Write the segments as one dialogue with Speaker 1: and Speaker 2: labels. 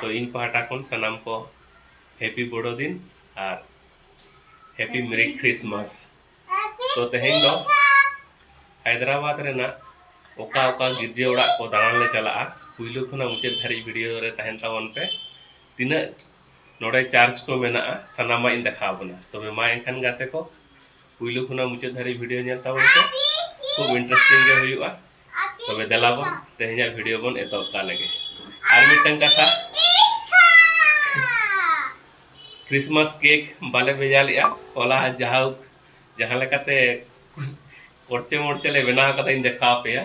Speaker 1: ᱛᱚ ᱤᱧ ᱯᱟᱦᱴᱟ ᱠᱷᱚᱱ ᱥᱟᱱᱟᱢ ᱠᱚ ᱦᱮᱯᱤ ᱵᱚᱲᱚ ᱫᱤᱱ ᱟᱨ ᱦᱮᱯᱤ ᱢᱮᱨᱤ ᱠᱷᱨᱤᱥᱢᱟᱥ ᱛᱚ ᱛᱮᱦᱮᱧ ᱫᱚ ᱦᱟᱭᱫᱨᱟᱵᱟᱫᱽ ᱨᱮᱱᱟᱜ ᱚᱠᱟ ᱚᱠᱟ ᱜᱤᱨᱡᱟᱹ ᱚᱲᱟᱜ ᱠᱚ ᱫᱟᱬᱟᱱ ᱞᱮ ᱪᱟᱞᱟᱜᱼᱟ ᱯᱩᱭᱞᱩ ᱠᱷᱚᱱᱟᱜ ᱢᱩᱪᱟᱹᱫ ᱫᱷᱟᱹᱨᱤᱡ ᱵᱷᱤᱰᱤᱭᱳ ᱨᱮ ᱛᱟᱦᱮᱱ ᱛᱟᱵᱚᱱ ᱯᱮ ᱛᱤᱱᱟᱹᱜ ᱱᱚᱰᱮ ᱪᱟᱨᱡᱽ ᱠᱚ ᱢᱮᱱᱟᱜᱼᱟ ᱥᱟᱱᱟᱢᱟᱜ ᱤᱧ ᱫᱮᱠᱷᱟᱣ ᱵᱚᱱᱟ ᱛᱚᱵᱮ ᱢᱟ ᱮᱱᱠᱷᱟᱱ ᱜᱟᱛᱮ ᱠᱚ ᱯᱩᱭᱞᱩ ᱠᱷᱚᱱᱟᱜ ᱢᱩᱪᱟᱹᱫ ᱫᱷᱟᱹᱨᱤᱡ ᱵᱷᱤᱰᱤᱭᱳ ᱧᱮᱞ ᱛᱟᱵᱚᱱ ᱯᱮ ᱠᱷᱩᱵ ᱤᱱᱴᱟᱨᱮᱥᱴᱤᱝ ᱜᱮ ᱦᱩᱭᱩᱜᱼᱟ ᱛᱚᱵᱮ ᱫᱮᱞᱟ ᱵᱚᱱ ᱛᱮᱦᱮᱧᱟᱜ ᱵᱷᱤᱰᱤᱭᱳ ᱵᱚᱱ ᱮᱛᱚᱦᱚᱵ ᱠᱟᱜ ᱞᱮᱜᱮ ᱟᱨ ᱢᱤᱫᱴᱟᱝ ᱠᱟᱛᱷᱟ ᱠᱨᱤᱥᱢᱟᱥ ᱠᱮᱠ ᱵᱟᱞᱮ ᱵᱷᱮᱡᱟ ᱞᱮᱜᱼᱟ ᱦᱚᱞᱟ ᱡᱟᱦᱟᱸ ᱡᱟᱦᱟᱸ ᱞᱮᱠᱟᱛᱮ ᱠᱚᱨᱪᱮ ᱢᱚᱨᱪᱮ ᱞᱮ ᱵᱮᱱᱟᱣ ᱠᱟᱛᱮ ᱤᱧ ᱫᱮᱠᱷᱟᱣ ᱯᱮᱭᱟ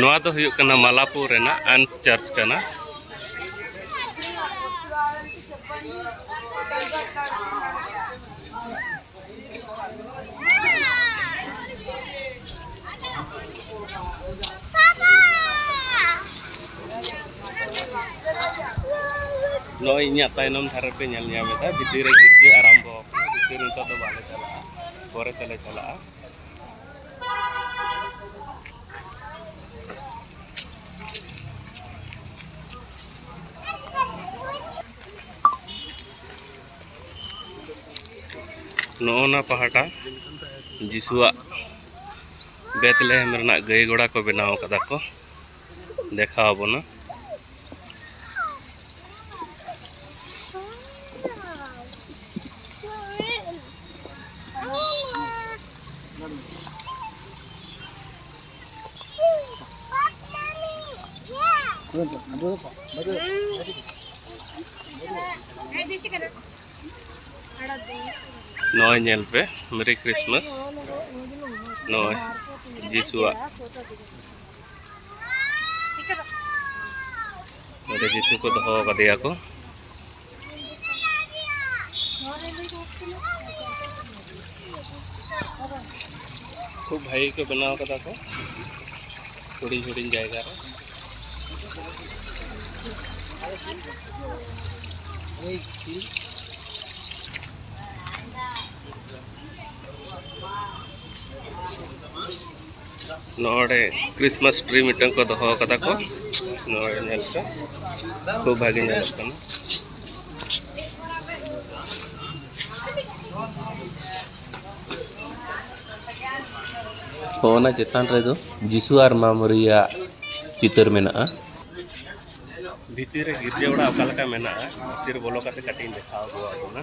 Speaker 1: ᱱᱚᱣᱟ ᱫᱚ ᱦᱩᱭᱩᱜ ᱠᱟᱱᱟ ᱢᱟᱞᱟᱯᱩᱨ ᱨᱮᱱᱟᱜ ᱟᱱᱥ ᱪᱟᱨᱪ ᱠᱟᱱᱟ ᱱᱚᱜᱼᱚᱭ ᱤᱧᱟᱹᱜ ᱛᱟᱭᱱᱚᱢ ᱫᱷᱟᱨᱮ ᱯᱮ ᱧᱮᱞ ᱧᱟᱢᱮᱫᱟ ᱵᱷᱤᱛᱤᱨ ᱨᱮ ᱜᱤᱨᱡᱟᱹ ᱟᱨᱟᱢᱵᱚ ᱟᱠᱟᱱᱟ ᱵᱷᱤᱛᱤᱨ ᱱᱤᱛᱚᱜ ᱫᱚ ᱵᱟᱞᱮ ᱪᱟᱞᱟᱜᱼᱟ ᱯᱚᱨᱮ ᱛᱮᱞᱮ ᱪᱟᱞᱟᱜᱼᱟ ᱱᱚᱜᱼᱚ ᱱᱟ ᱯᱟᱦᱴᱟ ᱡᱤᱥᱩᱣᱟᱜ ᱵᱮᱛᱞᱮᱦᱮᱢ ᱨᱮᱱᱟᱜ ᱜᱟᱹᱭ ᱜᱚᱲᱟ ᱠᱚ ᱵᱮᱱᱟᱣ ᱟᱠᱟᱫᱟ ᱠᱚ ᱫᱮᱠᱷᱟᱣ ᱟᱵᱚᱱᱟ ᱱᱚᱜᱼᱚᱭ ᱧᱮᱞ ᱯᱮ ᱢᱮᱨᱤ ᱠᱨᱤᱥᱢᱟᱥ ᱱᱚᱜᱼᱚᱭ ᱡᱤᱥᱩᱣᱟᱜ ᱱᱚᱰᱮ ᱡᱤᱥᱩ ᱠᱚ ᱫᱚᱦᱚ ᱠᱟᱫᱮᱭᱟ ᱠᱚ ᱠᱷᱩᱵ ᱵᱷᱟᱹᱜᱤ ᱠᱚ ᱵᱮᱱᱟᱣ ᱠᱟᱫᱟ ᱠᱚ ᱦᱩᱰᱤᱧ ᱦᱩᱰᱤᱧ ᱡᱟᱭᱜᱟ ᱨᱮ Hey, see? ᱱᱚᱰᱮ ᱠᱨᱤᱥᱢᱟᱥ ᱴᱨᱤ ᱢᱤᱫᱴᱟᱝ ᱠᱚ ᱫᱚᱦᱚ ᱠᱟᱫᱟ ᱠᱚ ᱱᱚᱰᱮ ᱧᱮᱞ ᱯᱮ ᱠᱷᱩᱵ ᱵᱷᱟᱜᱮ ᱧᱮᱞᱚᱜ ᱠᱟᱱᱟ ᱚᱱᱟ ᱪᱮᱛᱟᱱ ᱨᱮᱫᱚ ᱡᱤᱥᱩ ᱟᱨ ᱢᱟ ᱢᱟᱹᱨᱤᱭᱟᱜ ᱪᱤᱛᱟᱹᱨ ᱢᱮᱱᱟᱜᱼᱟ ᱵᱷᱤᱛᱤᱨ ᱨᱮ ᱜᱤᱨᱡᱟᱹ ᱚᱲᱟᱜ ᱚᱠᱟ ᱞᱮᱠᱟ ᱢᱮᱱᱟᱜᱼᱟ ᱵᱷᱤᱛᱤᱨ ᱵᱚᱞᱚ ᱠᱟᱛᱮ ᱠᱟᱹᱴᱤᱡ ᱤᱧ ᱫᱮᱠᱷᱟᱣ ᱟᱹᱜᱩ ᱟᱫ ᱵᱚᱱᱟ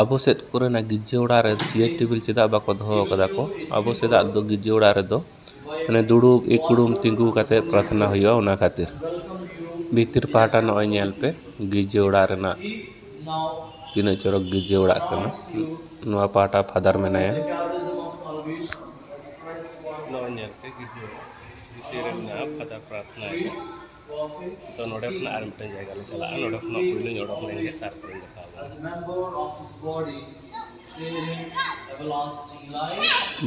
Speaker 1: ᱟᱵᱚ ᱥᱮᱫ ᱠᱚᱨᱮᱱᱟᱜ ᱜᱤᱨᱡᱟᱹ ᱚᱲᱟᱜ ᱨᱮ ᱪᱮᱭᱟᱨ ᱴᱮᱵᱤᱞ ᱪᱮᱫᱟᱜ ᱵᱟᱠᱚ ᱫᱚᱦᱚ ᱠᱟᱫᱟ ᱠᱚ ᱟᱵᱚ ᱥᱮᱫᱟᱜ ᱫᱚ ᱜᱤᱨᱡᱟᱹ ᱚᱲᱟᱜ ᱨᱮᱫᱚ ᱢᱟᱱᱮ ᱫᱩᱲᱩᱵ ᱤᱠᱲᱩᱢ ᱛᱤᱸᱜᱩ ᱠᱟᱛᱮ ᱯᱨᱟᱛᱷᱱᱟ ᱦᱩᱭᱩᱜᱼᱟ ᱚᱱᱟ ᱠᱷᱟᱹᱛᱤᱨ ᱵᱷᱤᱛᱤᱨ ᱯᱟᱦᱴᱟ ᱱᱚᱜᱼᱚᱭ ᱧᱮᱞ ᱯᱮ ᱜᱤᱨᱡᱟᱹ ᱚᱲᱟᱜ ᱨᱮᱱᱟᱜ ᱛᱤᱱᱟᱹᱜ ᱪᱚᱨᱚᱠ ᱜᱤᱨᱡᱟᱹ ᱚᱲᱟᱜ ᱠᱟᱱᱟ ᱱᱚᱣᱟ ᱯᱟᱦᱴᱟ ᱯᱷᱟᱫᱟᱨ ᱢᱮᱱᱟᱭᱟ ᱱᱚᱜᱼᱚᱭ ᱧᱮᱞ ᱯᱮ ᱜᱤᱨᱡᱟᱹ ᱚᱲᱟᱜ ᱵᱷᱤᱛᱤᱨ ᱨᱮ ᱢᱮᱱᱟᱜᱼᱟ ᱯᱷᱟᱫᱟᱨ ᱯᱨᱟᱛᱷᱱᱟᱭᱮᱫᱟᱭ ᱛᱚ ᱱᱚᱰᱮ ᱠᱷᱚᱱᱟᱜ ᱟᱨ ᱢᱤᱫᱴᱟᱝ ᱡᱟᱭᱜᱟ ᱞᱮ ᱪᱟᱞᱟᱜᱼᱟ ᱱᱚᱰᱮ ᱠᱷᱚᱱᱟᱜ ᱯᱩᱭᱞᱩᱧ ᱚᱰᱚᱠ ᱞᱮᱱ ᱜᱮ ᱛᱟᱨᱯᱚᱨᱮᱧ ᱫᱮᱠᱷᱟᱣ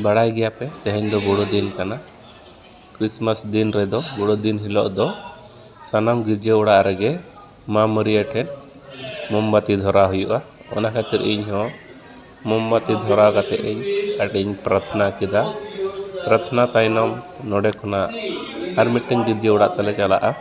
Speaker 1: ᱵᱟᱲᱟᱭ ᱜᱮᱭᱟ ᱯᱮ ᱛᱮᱦᱮᱧ ᱫᱚ ᱵᱚᱲᱚ ᱫᱤᱱ ᱠᱟᱱᱟ ᱠᱨᱤᱥᱢᱟᱥ ᱫᱤᱱ ᱨᱮᱫᱚ ᱵᱚᱲᱚ ᱫᱤᱱ ᱦᱤᱞᱳᱜ ᱫᱚ ᱥᱟᱱᱟᱢ ᱜᱤᱨᱡᱟᱹ ᱚᱲᱟᱜ ᱨᱮᱜᱮ ᱢᱟ ᱢᱟᱹᱨᱭᱟᱹ ᱴᱷᱮᱱ ᱢᱳᱢᱵᱟᱹᱛᱤ ᱫᱷᱚᱨᱟᱣ ᱦᱩᱭᱩᱜᱼᱟ ᱚᱱᱟ ᱠᱷᱟᱹᱛᱤᱨ ᱤᱧ ᱦᱚᱸ ᱢᱳᱢᱵᱟᱛᱤ ᱫᱷᱚᱨᱟᱣ ᱠᱟᱛᱮᱫ ᱤᱧ ᱟᱹᱰᱤᱧ ᱯᱨᱟᱨᱛᱷᱱᱟ ᱠᱮᱫᱟ ᱯᱨᱟᱨᱛᱷᱱᱟ ᱛᱟᱭᱱᱚᱢ ᱱᱚᱰᱮ ᱠᱷᱚᱱᱟᱜ ᱟᱨ ᱢᱤᱫᱴᱮᱱ ᱜᱤᱨᱡᱟᱹ ᱚᱲᱟᱜ ᱛᱮᱞᱮ ᱪᱟᱞᱟᱜᱼᱟ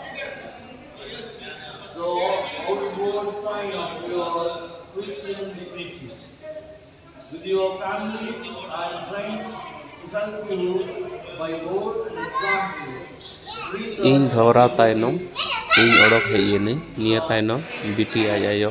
Speaker 1: ᱤᱧ ᱫᱷᱚᱨᱟᱣ ᱛᱟᱭᱱᱚᱢ ᱤᱧ ᱚᱰᱚᱠ ᱦᱮᱡ ᱮᱱᱟᱹᱧ ᱱᱤᱭᱟᱹ ᱛᱟᱭᱱᱚᱢ ᱵᱤᱴᱤ ᱟᱡ ᱟᱭᱳ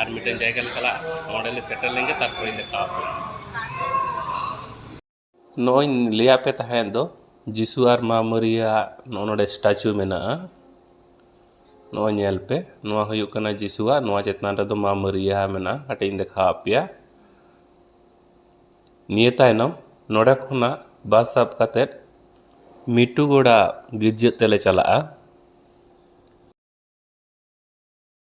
Speaker 1: ᱟᱨ ᱢᱤᱫᱴᱮᱱ ᱡᱟᱭᱜᱟ ᱞᱮ ᱪᱟᱞᱟᱜᱼᱟ ᱱᱚᱰᱮ ᱞᱮ ᱥᱮᱴᱮᱨ ᱞᱮᱱ ᱜᱮ ᱛᱟᱨᱯᱚᱨᱮ ᱫᱮᱠᱷᱟᱣ ᱟᱯᱮᱭᱟ ᱱᱚᱜᱼᱚᱭ ᱞᱟᱹᱭᱟᱫ ᱯᱮ ᱛᱟᱦᱮᱸᱫ ᱫᱚ ᱡᱤᱥᱩ ᱟᱨ ᱢᱟ ᱢᱟᱹᱨᱤᱭᱟᱜ ᱱᱚᱜᱼᱚ ᱱᱚᱰᱮ ᱥᱴᱟᱪᱩ ᱢᱮᱱᱟᱜᱼᱟ ᱱᱚᱜᱼᱚᱭ ᱧᱮᱞ ᱯᱮ ᱱᱚᱣᱟ ᱦᱩᱭᱩᱜ ᱠᱟᱱᱟ ᱡᱤᱥᱩᱣᱟᱜ ᱱᱚᱣᱟ ᱪᱮᱛᱟᱱ ᱨᱮᱫᱚ ᱢᱟ ᱢᱟᱹᱨᱤᱭᱟ ᱢᱮᱱᱟᱜᱼᱟ ᱠᱟᱹᱴᱤᱡ ᱤᱧ ᱫᱮᱠᱷᱟᱣ ᱟᱯᱮᱭᱟ ᱱᱤᱭᱟᱹ ᱛᱟᱭᱱᱚᱢ ᱱᱚᱰᱮ ᱠᱷᱚᱱᱟᱜ ᱵᱟᱥ ᱥᱟᱵ ᱠᱟᱛᱮᱫ ᱢᱤᱴᱩᱜᱳᱲᱟ ᱜᱤᱨᱡᱟᱹ ᱛᱮᱞᱮ ᱪᱟᱞᱟᱜᱼᱟ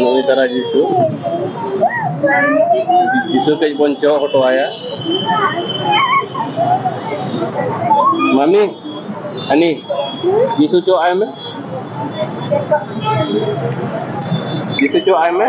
Speaker 1: ᱱᱩᱭ ᱫᱟᱨᱟ ᱡᱤᱥᱩ ᱡᱤᱥᱩ ᱠᱟᱹᱡ ᱵᱚᱱ ᱪᱚᱜ ᱦᱚᱴᱚ ᱟᱭᱟ ᱢᱟᱢᱤ ᱦᱟᱹᱱᱤ ᱡᱤᱥᱩ ᱪᱚᱜ ᱟᱭ ᱢᱮ ᱡᱤᱥᱩ ᱪᱚᱜ ᱟᱭ ᱢᱮ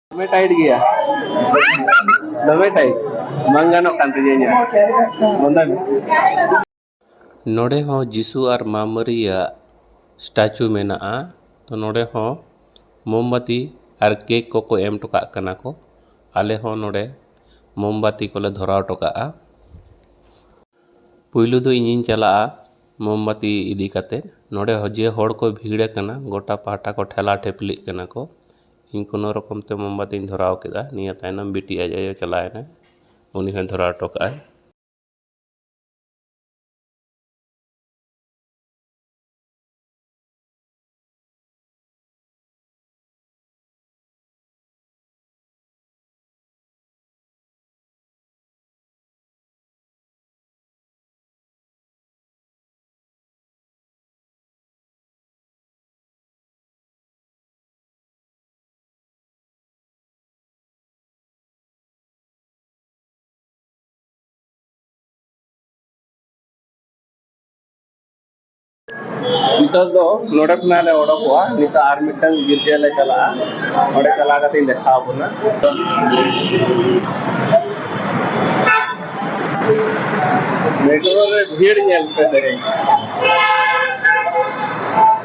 Speaker 1: ᱫᱚᱢᱮ ᱴᱟᱭᱤᱴ ᱜᱮᱭᱟ ᱫᱚᱢᱮ ᱴᱟᱭᱤᱴ ᱵᱟᱝ ᱜᱟᱱᱚᱜ ᱠᱟᱱ ᱛᱤᱧᱟᱹ ᱤᱧᱟᱹᱜ ᱵᱚᱱᱫᱚᱭ ᱢᱮ ᱱᱚᱰᱮ ᱦᱚᱸ ᱡᱤᱥᱩ ᱟᱨ ᱢᱟ ᱢᱟᱹᱨᱤᱭᱟᱜ ᱥᱴᱟᱪᱩ ᱢᱮᱱᱟᱜᱼᱟ ᱛᱚ ᱱᱚᱰᱮ ᱦᱚᱸ ᱢᱳᱢᱵᱟᱛᱤ ᱟᱨ ᱠᱮᱠ ᱠᱚᱠᱚ ᱮᱢ ᱦᱚᱴᱚ ᱠᱟᱜ ᱠᱟᱱᱟ ᱠᱚ ᱟᱞᱮ ᱦᱚᱸ ᱱᱚᱰᱮ ᱢᱳᱢᱵᱟᱛᱤ ᱠᱚᱞᱮ ᱫᱷᱚᱨᱟᱣ ᱦᱚᱴᱚ ᱠᱟᱜᱼᱟ ᱯᱩᱭᱞᱩ ᱫᱚ ᱤᱧᱤᱧ ᱪᱟᱞᱟᱜᱼᱟ ᱢᱳᱢᱵᱟᱛᱤ ᱤᱫᱤ ᱠᱟᱛᱮ ᱱᱚᱰᱮ ᱦᱚᱸ ᱡᱮ ᱦᱚᱲ ᱠᱚ ᱵᱷᱤᱲ ᱟᱠᱟᱱᱟ ᱜᱚᱴᱟ ᱯᱟᱦᱴᱟ ᱠᱚ ᱴᱷᱮᱞᱟᱣ ᱴᱷᱤᱯᱞᱤᱜ ᱠᱟᱱᱟ ᱠᱚ ᱤᱧ ᱠᱳᱱᱳ ᱨᱚᱠᱚᱢ ᱛᱮ ᱢᱳᱢᱵᱟᱛᱤᱧ ᱫᱷᱚᱨᱟᱣ ᱠᱮᱫᱟ ᱱᱤᱭᱟᱹ ᱛᱟᱭᱱᱚᱢ ᱵᱤᱴᱤ ᱟᱡ ᱟᱭᱳ ᱪᱟᱞᱟᱣ ᱮᱱᱟᱭ ᱩᱱᱤ ᱦᱚᱸᱭ ᱫᱷᱚᱨᱟᱣ ᱦᱚᱴᱚ ᱠᱟᱜᱼᱟᱭ ᱱᱤᱛᱚᱜ ᱫᱚ ᱱᱚᱰᱮ ᱠᱷᱚᱱᱟᱜ ᱞᱮ ᱚᱰᱚᱠᱚᱜᱼᱟ ᱱᱤᱛᱚᱜ ᱟᱨ ᱢᱤᱫᱴᱟᱝ ᱜᱤᱨᱡᱟᱹ ᱞᱮ ᱪᱟᱞᱟᱜᱼᱟ ᱚᱸᱰᱮ ᱪᱟᱞᱟᱣ ᱠᱟᱛᱮ ᱤᱧ ᱫᱮᱠᱷᱟᱣ ᱟᱵᱚᱱᱟ ᱢᱮᱴᱨᱳ ᱨᱮ ᱵᱷᱤᱲ ᱧᱮᱞ ᱯᱮ ᱛᱮᱦᱮᱧ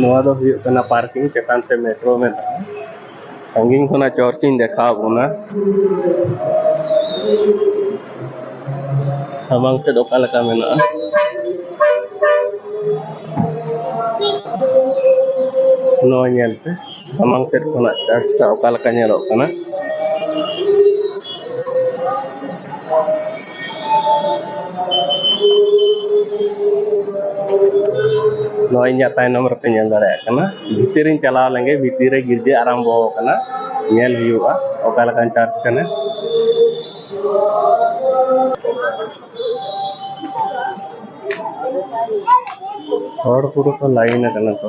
Speaker 1: ᱱᱚᱣᱟ ᱫᱚ ᱦᱩᱭᱩᱜ ᱠᱟᱱᱟ ᱯᱟᱨᱠᱤᱝ ᱪᱮᱛᱟᱱ ᱛᱮ ᱢᱮᱴᱨᱳ ᱢᱮᱱᱟᱜᱼᱟ ᱥᱟᱺᱜᱤᱧ ᱠᱷᱚᱱᱟᱜ ᱪᱚᱨᱪᱤᱧ ᱫᱮᱠᱷᱟᱣ ᱵᱚᱱᱟ ᱥᱟᱢᱟᱝ ᱥᱮᱫ ᱚᱠᱟ ᱞᱮᱠᱟ ᱢᱮᱱᱟᱜᱼᱟ ᱱᱚᱣᱟ ᱧᱮᱞ ᱯᱮ ᱥᱟᱢᱟᱝ ᱥᱮᱫ ᱠᱷᱚᱱᱟᱜ ᱪᱟᱨᱪ ᱴᱟᱜ ᱚᱠᱟ ᱞᱮᱠᱟ ᱧᱮᱞᱚᱜ ᱠᱟᱱᱟ ᱱᱚᱣᱟ ᱤᱧᱟᱹᱜ ᱛᱟᱭᱱᱚᱢ ᱨᱮᱯᱮ ᱧᱮᱞ ᱫᱟᱲᱮᱭᱟᱜ ᱠᱟᱱᱟ ᱵᱷᱤᱛᱤᱨ ᱤᱧ ᱪᱟᱞᱟᱣ ᱞᱮᱱᱜᱮ ᱵᱷᱤᱛᱤᱨ ᱨᱮ ᱜᱤᱨᱡᱟᱹ ᱟᱨᱟᱢᱵᱚ ᱟᱠᱟᱱᱟ ᱧᱮᱞ ᱦᱩᱭᱩᱜᱼᱟ ᱚᱠᱟ ᱞᱮᱠᱟᱱ ᱪᱟᱨᱪ ᱠᱟᱱᱟ ᱦᱚᱲ ᱯᱩᱨᱟᱹ ᱠᱚ ᱞᱟᱭᱤᱱ ᱟᱠᱟᱱᱟ ᱠᱚ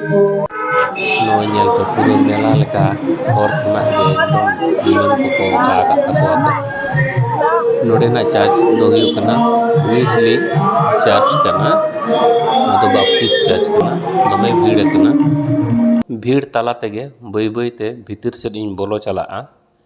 Speaker 1: ᱱᱚᱜᱼᱚᱭ ᱧᱮᱞ ᱯᱮ ᱯᱩᱨᱟᱹ ᱢᱮᱞᱟ ᱞᱮᱠᱟ ᱦᱚᱨ ᱠᱷᱚᱱᱟᱜ ᱜᱮ ᱮᱠᱫᱚᱢ ᱵᱮᱞᱩᱱ ᱠᱚᱠᱚ ᱚᱪᱚᱜ ᱟᱠᱟᱫ ᱛᱟᱠᱚᱣᱟ ᱠᱚ ᱱᱚᱰᱮᱱᱟᱜ ᱪᱟᱨᱪ ᱫᱚ ᱦᱩᱭᱩᱜ ᱠᱟᱱᱟ ᱩᱭᱤᱡᱽᱞᱤ ᱪᱟᱨᱪ ᱠᱟᱱᱟ ᱱᱚᱣᱟ ᱫᱚ ᱵᱟᱯᱴᱤᱥᱴ ᱪᱟᱨᱪ ᱠᱟᱱᱟ ᱫᱚᱢᱮ ᱵᱷᱤᱲ ᱟᱠᱟᱱᱟ ᱵᱷᱤᱲ ᱛᱟᱞᱟ ᱛᱮᱜᱮ ᱵᱟᱹᱭ ᱵᱟᱹᱭ ᱛᱮ ᱵᱷᱤᱛᱤᱨ ᱥᱮᱫ ᱤᱧ ᱵᱚᱞᱚ ᱪᱟᱞᱟᱜᱼᱟ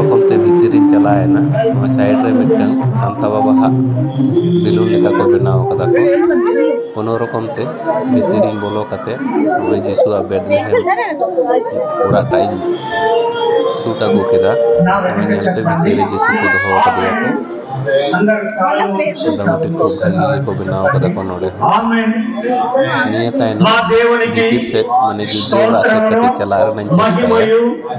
Speaker 1: ᱯᱨᱚᱛᱷᱚᱢ ᱛᱮ ᱵᱷᱤᱛᱤᱨ ᱨᱤᱧ ᱪᱟᱞᱟᱣᱮᱱᱟ ᱱᱚᱣᱟ ᱥᱟᱭᱤᱰ ᱨᱮ ᱢᱤᱫᱴᱟᱝ ᱥᱟᱱᱛᱟ ᱵᱟᱵᱟ ᱦᱟᱜ ᱵᱮᱞᱩᱱ ᱞᱮᱠᱟ ᱠᱚ ᱵᱮᱱᱟᱣ ᱠᱟᱫᱟ ᱠᱚ ᱠᱳᱱᱳ ᱨᱚᱠᱚᱢ ᱛᱮ ᱵᱷᱤᱛᱤᱨ ᱨᱤᱧ ᱵᱚᱞᱚ ᱠᱟᱛᱮ ᱱᱚᱜᱼᱚᱭ ᱡᱤᱥᱩᱣᱟᱜ ᱵᱮᱫᱞᱮᱦᱮᱢ ᱚᱲᱟᱜ ᱴᱟᱜ ᱤᱧ ᱥᱩᱴ ᱟᱹᱜᱩ ᱠᱮᱫᱟ ᱚᱱᱟ ᱧᱮᱞᱛᱮ ᱵᱷᱤᱛᱤᱨ ᱨᱮ ᱡᱤᱥᱩ ᱠᱚ ᱫᱚᱦᱚ ᱠᱟᱫᱮᱭᱟ ᱠᱚ ᱢᱚᱴᱟᱢᱩᱴᱤ ᱠᱷᱩᱵ ᱵᱷᱟᱹᱜᱤ ᱜᱮᱠᱚ ᱵᱮᱱᱟᱣ ᱠᱟᱫᱟ ᱠᱚ ᱱᱚᱰᱮ ᱦᱚᱸ ᱱᱤᱭᱟᱹ ᱛᱟᱭᱱᱚᱢ ᱵᱷᱤᱛᱤᱨ ᱥᱮᱫ ᱢᱟᱱᱮ ᱜᱤᱨᱡᱟᱹ ᱚᱲᱟᱜ ᱥᱮᱫ ᱠᱟᱹᱴᱤᱡ ᱪᱟᱞᱟᱜ ᱨᱮᱱᱟᱜ ᱤᱧ ᱪᱮᱥᱴᱟᱭᱟ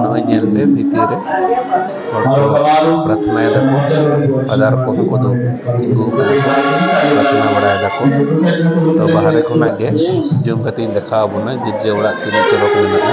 Speaker 1: ᱱᱚᱜᱼᱚᱭ ᱧᱮᱞ ᱯᱮ ᱵᱷᱤᱛᱤᱨ ᱨᱮ ᱦᱚᱲ ᱠᱚ ᱯᱨᱟᱛᱷᱱᱟᱭ ᱫᱟᱠᱚ ᱯᱷᱟᱫᱟᱨ ᱠᱚ ᱩᱱᱠᱩ ᱫᱚ ᱛᱤᱸᱜᱩ ᱠᱟᱱᱟ ᱠᱚ ᱯᱨᱟᱛᱷᱱᱟ ᱵᱟᱲᱟᱭ ᱫᱟᱠᱚ ᱛᱚ ᱵᱟᱦᱨᱮ ᱠᱷᱚᱱᱟᱜ ᱜᱮ ᱡᱩᱢ ᱠᱟᱛᱮ ᱤᱧ ᱫᱮᱠᱷᱟᱣ ᱟᱵᱚᱱᱟ ᱜᱤᱨᱡᱟᱹ ᱚᱲᱟᱜ ᱛᱤᱱᱟᱹᱜ ᱪᱚᱨᱚᱠ ᱢᱮᱱᱟᱜᱼᱟ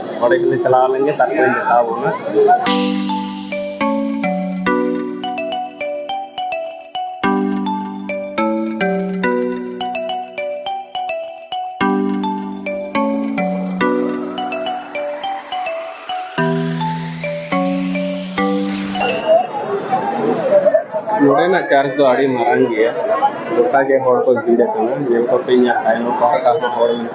Speaker 1: ᱚᱸᱰᱮ ᱜᱮᱞᱮ ᱪᱟᱞᱟᱣ ᱞᱮᱱ ᱜᱮ ᱛᱟᱨᱯᱚᱨᱮ ᱢᱮᱛᱟᱣ ᱵᱚᱱᱟ ᱱᱚᱰᱮᱱᱟᱜ ᱪᱟᱨᱪ ᱫᱚ ᱟᱹᱰᱤ ᱢᱟᱨᱟᱝ ᱜᱮᱭᱟ ᱜᱚᱴᱟ ᱜᱮ ᱦᱚᱲ ᱠᱚ ᱵᱷᱤᱲ ᱟᱠᱟᱱᱟ ᱧᱮᱞ ᱠᱚᱯᱮ ᱤᱧᱟᱹᱜ ᱛᱟᱭᱱᱚᱢ ᱯᱟᱦᱴᱟ ᱦᱚᱸ ᱦᱚᱲ ᱢᱮᱱᱟᱜ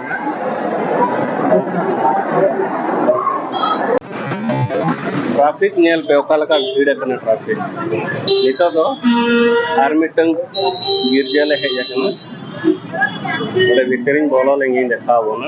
Speaker 1: ᱴᱨᱟᱯᱷᱤᱠ ᱧᱮᱞ ᱯᱮ ᱚᱠᱟ ᱞᱮᱠᱟ ᱵᱷᱤᱲ ᱟᱠᱟᱱᱟ ᱴᱨᱟᱯᱷᱤᱠ ᱱᱤᱛᱚᱜ ᱫᱚ ᱟᱨ ᱢᱤᱫᱴᱟᱝ ᱜᱤᱨᱡᱟᱹ ᱞᱮ ᱦᱮᱡ ᱟᱠᱟᱱᱟ ᱚᱸᱰᱮ ᱵᱷᱤᱛᱨᱤᱧ ᱵᱚᱞᱚ ᱞᱮᱱᱜᱤᱧ ᱫᱮᱠᱷᱟᱣ ᱵᱚᱱᱟ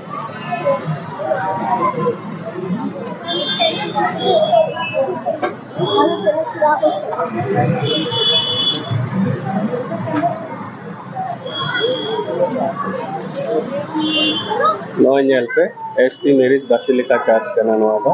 Speaker 1: ᱱᱚᱜᱼᱚᱭ ᱧᱮᱞ ᱯᱮ S T Mary's basilica church ᱠᱟᱱᱟ ᱱᱚᱣᱟ ᱫᱚ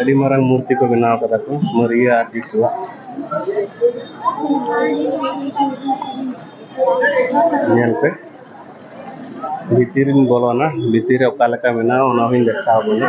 Speaker 1: ᱟᱹᱰᱤ ᱢᱟᱨᱟᱝ ᱢᱩᱨᱛᱤ ᱠᱚ ᱵᱮᱱᱟᱣ ᱠᱟᱫᱟ ᱠᱚ ᱢᱟᱹᱨᱤᱭᱟ ᱟᱨ ᱡᱤᱥᱩᱣᱟᱜ ᱧᱮᱞ ᱯᱮ ᱵᱷᱤᱛᱤᱨ ᱨᱤᱧ ᱵᱚᱞᱚᱱᱟ ᱵᱷᱤᱛᱤᱨ ᱨᱮ ᱚᱠᱟ ᱞᱮᱠᱟ ᱢᱮᱱᱟᱜᱼᱟ ᱚᱱᱟ ᱦᱚᱸᱧ ᱫᱮᱠᱷᱟᱣ ᱵᱚᱱᱟ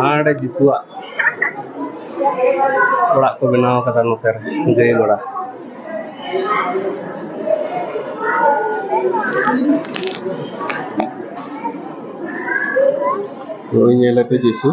Speaker 1: ᱦᱟᱸᱰᱮ ᱡᱤᱥᱩᱣᱟᱜ ᱚᱲᱟᱜ ᱠᱚ ᱵᱮᱱᱟᱣ ᱠᱟᱫᱟ ᱱᱚᱛᱮ ᱨᱮ ᱜᱟᱹᱭ ᱜᱚᱲᱟ ᱱᱩᱭ ᱧᱮᱞᱮᱯᱮ ᱡᱤᱥᱩ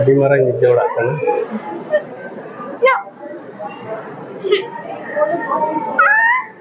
Speaker 1: ᱟᱹᱰᱤ ᱢᱟᱨᱟᱝ ᱜᱤᱫᱽᱨᱟᱹ ᱚᱲᱟᱜ ᱠᱟᱱᱟ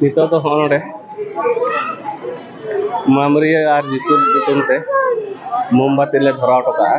Speaker 1: ᱱᱤᱛᱚᱜ ᱫᱚ ᱦᱚᱸᱜᱼᱚ ᱱᱚᱰᱮ ᱢᱟᱢᱨᱤᱭᱟᱹ ᱟᱨ ᱡᱤᱥᱩ ᱧᱩᱛᱩᱢ ᱛᱮ ᱢᱳᱢᱵᱟᱛᱤ ᱞᱮ ᱫᱷᱚᱨᱟᱣ ᱦᱚᱴᱚ ᱠᱟᱜᱼᱟ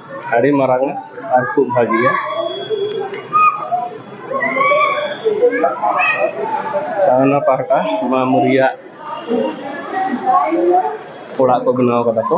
Speaker 1: ᱟᱹᱰᱤ ᱢᱟᱨᱟᱝ ᱟᱨ ᱠᱷᱩᱵ ᱵᱷᱟᱹᱜᱤᱭᱟ ᱚᱱᱟ ᱯᱟᱦᱴᱟ ᱢᱟᱢ ᱨᱮᱭᱟᱜ ᱚᱲᱟᱜ ᱠᱚ ᱵᱮᱱᱟᱣ ᱠᱟᱫᱟ ᱠᱚ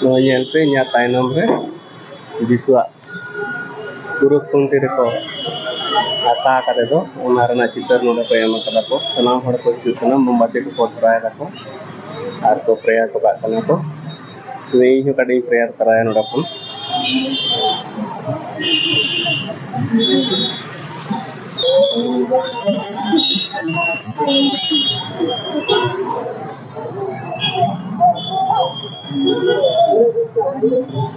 Speaker 1: ᱱᱚᱣᱟ ᱧᱮᱞ ᱯᱮ ᱤᱧᱟᱹᱜ ᱛᱟᱭᱱᱚᱢ ᱨᱮ ᱫᱤᱥᱩᱣᱟᱜ ᱯᱩᱨᱩᱥ ᱠᱷᱩᱱᱴᱤ ᱨᱮᱠᱚ ᱟᱠᱟ ᱠᱟᱛᱮ ᱫᱚ ᱚᱱᱟ ᱨᱮᱱᱟᱜ ᱪᱤᱛᱟᱹᱨ ᱱᱚᱰᱮ ᱠᱚ ᱮᱢ ᱠᱟᱫᱟ ᱠᱚ ᱥᱟᱱᱟᱢ ᱦᱚᱲ ᱠᱚ ᱦᱤᱡᱩᱜ ᱠᱟᱱᱟ ᱢᱳᱢᱵᱟᱛᱤ ᱠᱚᱠᱚ ᱫᱷᱚᱨᱟᱣ ᱫᱟᱠᱚ ᱟᱨ ᱠᱚ ᱯᱨᱮᱭᱟᱨ ᱦᱚᱴᱚ ᱠᱟᱜ ᱠᱟᱱᱟ ᱠᱚ ᱛᱚᱵᱮ ᱤᱧ ᱦᱚᱸ ᱠᱟᱹᱴᱤᱡ ᱤᱧ ᱯᱨᱮᱭᱟᱨ ᱛᱚᱨᱟᱭᱟ ᱱᱚᱰᱮ ᱠᱷᱚᱱ Thank you.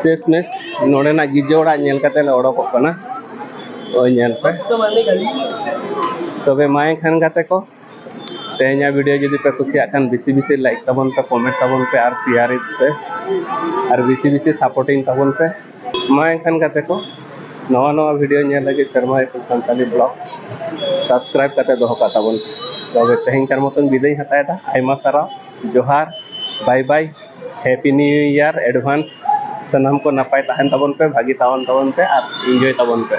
Speaker 1: ᱥᱮᱥ ᱢᱮᱥ ᱱᱚᱰᱮᱱᱟᱜ ᱜᱤᱨᱡᱟᱹ ᱚᱲᱟᱜ ᱧᱮᱞ ᱠᱟᱛᱮ ᱞᱮ ᱚᱰᱚᱠᱚᱜ ᱠᱟᱱᱟ ᱳᱭ ᱧᱮᱞ ᱯᱮ ᱛᱚᱵᱮ ᱢᱟ ᱮᱱᱠᱷᱟᱱ ᱜᱟᱛᱮ ᱠᱚ ᱛᱮᱦᱮᱧᱟᱜ ᱵᱷᱤᱰᱤᱭᱳ ᱡᱩᱫᱤ ᱯᱮ ᱠᱩᱥᱤᱭᱟᱜ ᱠᱷᱟᱱ ᱵᱮᱥᱤ ᱵᱮᱥᱤ ᱞᱟᱭᱤᱠ ᱛᱟᱵᱚᱱ ᱯᱮ ᱠᱚᱢᱮᱱᱴ ᱛᱟᱵᱚᱱ ᱯᱮ ᱟᱨ ᱥᱮᱭᱟᱨ ᱯᱮ ᱟᱨ ᱵᱮᱥᱤ ᱵᱮᱥᱤ ᱥᱟᱯᱳᱨᱴᱤᱝ ᱛᱟᱵᱚᱱ ᱯᱮ ᱢᱟ ᱮᱱᱠᱷᱟᱱ ᱜᱟᱛᱮ ᱠᱚ ᱱᱟᱣᱟ ᱱᱟᱣᱟ ᱵᱷᱤᱰᱤᱭᱳ ᱧᱮᱞ ᱞᱟᱹᱜᱤᱫ ᱥᱮᱨᱢᱟ ᱮᱯᱤ ᱥᱟᱱᱛᱟᱞᱤ ᱵᱞᱚᱜ ᱥᱟᱵᱥᱠᱨᱟᱭᱤᱵ ᱠᱟᱛᱮ ᱫᱚᱦᱚ ᱠᱟᱜ ᱛᱟᱵᱚᱱ ᱛᱚᱵᱮ ᱛᱮᱦᱮᱧ ᱠᱟᱨ ᱢᱚᱛᱚᱱ ᱵᱤᱫᱟᱹᱭ ᱦᱟᱛᱟᱣᱮᱫᱟ ᱟᱭᱢᱟ ᱥᱟᱨᱦᱟᱣ ᱡᱚᱦᱟᱨ bye bye happy new year advance ᱥᱟᱱᱟᱢ ᱠᱚ ᱱᱟᱯᱟᱭ ᱛᱟᱦᱮᱱ ᱛᱟᱵᱚᱱ ᱯᱮ ᱵᱷᱟᱹᱜᱤ ᱛᱟᱦᱮᱱ ᱛᱟᱵᱚᱱ ᱯᱮ ᱟᱨ ᱤᱱᱡᱚᱭ ᱛᱟᱵᱚᱱ ᱯᱮ